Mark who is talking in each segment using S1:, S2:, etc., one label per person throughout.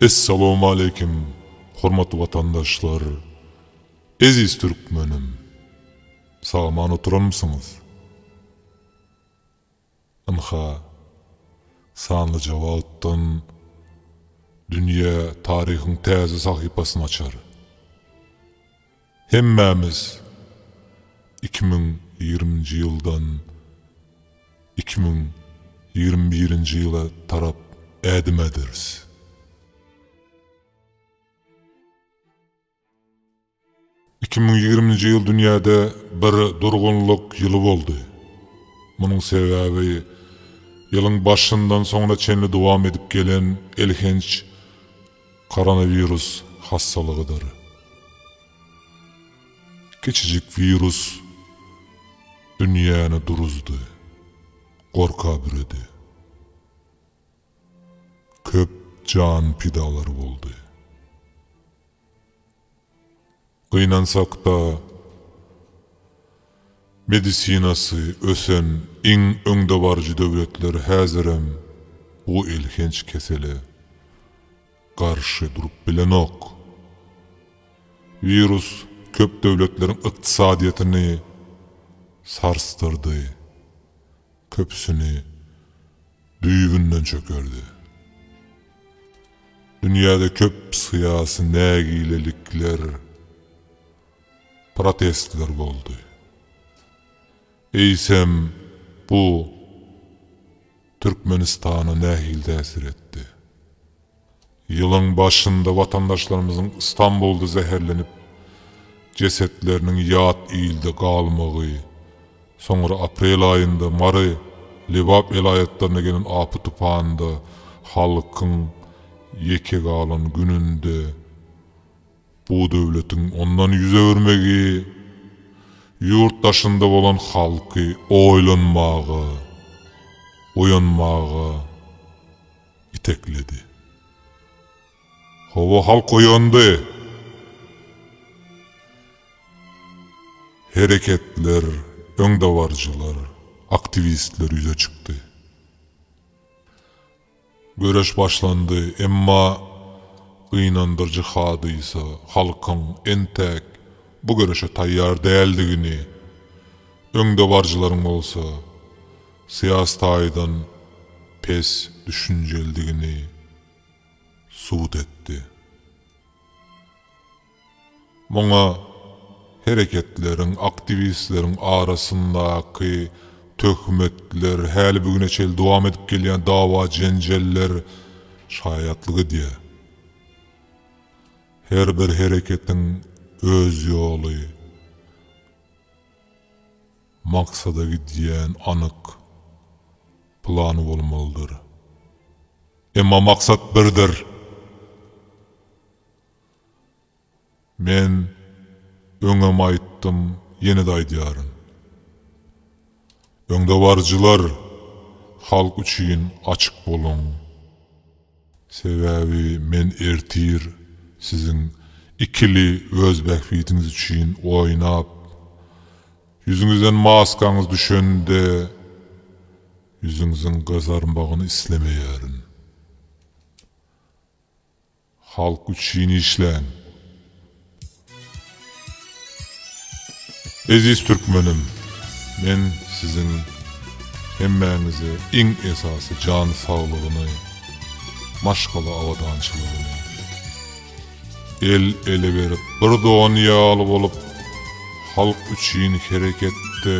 S1: Essalawmaleýkim hormatly watandaşlar, eziz türkmenim! Sagaman oturanmysyňyz? Ynha, sanly jogapdan dünýä taryhyň täze sahypasyny açar. Hemmämiz iki müň ýigriminji ýyldan iki müň ýigrimi birinji ýyla tarap ädim äderis. Iki müň ýigriminji ýyl dünýäde bir durgunlyk ýyly boldy. Munuň sebäbi ýylyň başyndan soňuna çenli dowam edip gelen elhenç Koronawirus hassalygydyr. Kiçijik wirus dünýäni duruzdy, gorka büredi. Köp jan pidalar boldy. Gynansakda, medisinasy ösen iň öňdebaryjy döwletler häzirem bu elhenç kesele garşy durup bilenok. Wirus köp döwletleriň ykdysadyýetini sarsdyrdy, Köpüsini düýbünden çökerdi. Dünýäde köp syýasy nägilelikler, protestler boldy. Eýsem, bu Türkmenistana nähili täsir etdi? Ýylyň başynda watandaşlarymyzyň Stambulda zäherlenip, jesetleriniň ýat ilde galmagy, soňra aprel aýynda Mary, Lebap welaýatlaryna gelen apy-tupanda halkyň ýeke galan gününde bu döwletiň ondan ýüz öwürmegi ýurt daşynda bolan halky oýlanmaga, oýanmaga, itekledi. Howa halk oýandy. Hereketler, öňdebaryjylar, aktiwistler ýüze çykdy. Göreş başlandy, emma gynandyryjy hadysa halkyň entäk bu göreşe taýýar däldigini, öňdebaryjylaryň bolsa, Syýasy taýdan pes düşünjelidigini subut etdi. Muňa hereketleriň, aktiwistleriň arasyndaky töhmetler, häli bu güne çenli dowam edip gelýän dawa-jenjeller şaýatlyk edýär. Her bir hereketiň öz ýoly. Maksada gidýän anyk plan bolmalydyr. Emma maksat birdir. Men öňem aýtdym, ýene-de aýdýaryn. Öňdebaryjylar, halk üçin açyk boluň! Sebäbi men ertir siziň ikili öz bähbidiňiz üçin oýnap, ýüzüňizden maskaňyz düşende, ýüzüňiziň gyzarmagyny islemeýärin. Halk üçin işläň. Eziz Türkmenim! Men siziň hemmäňize iň esasy jan saglygyny, maşgala abadançylygyny, el ele berip bir don ýaly bolup halk üçin hereketde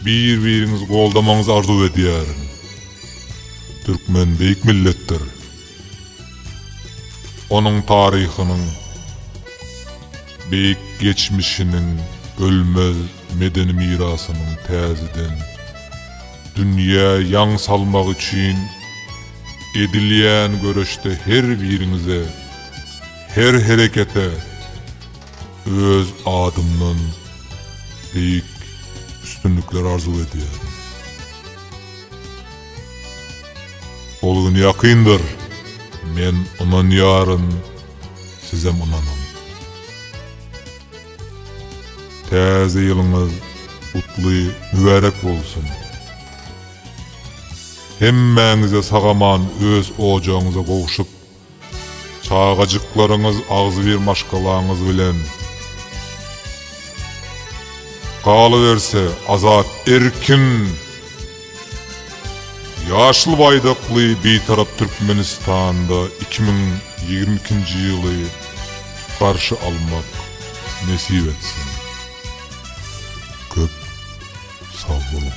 S1: bir biriňizi goldamagyňyzy arzuw edýärin. Türkmen beýik milletdir. Onuň taryhynyň, beýik geçmişiniň, ölmez medeni mirasynyň täzeden dünýä ýaň salmagy üçin edilýän göreşde her biriňize, her herekete öz adymdan beýik üstünlikler arzuw edýärin. Ol gün ýakyndyr, men ynanýaryn, sizem ynanyň. Täze ýylyňyz gutly, mübärek bolsun! Hemmäňize sag-aman öz ojagyňyza gowşup, Çagajyklaryňyz agzybir maşgalaňyz bilen galyberse azat erkin ýaşyl baýdakly Bitarap Türkmenistanda iki müň ýigrimi ikinji ýyly garşy almak nesip etsin. Köp sagboluň.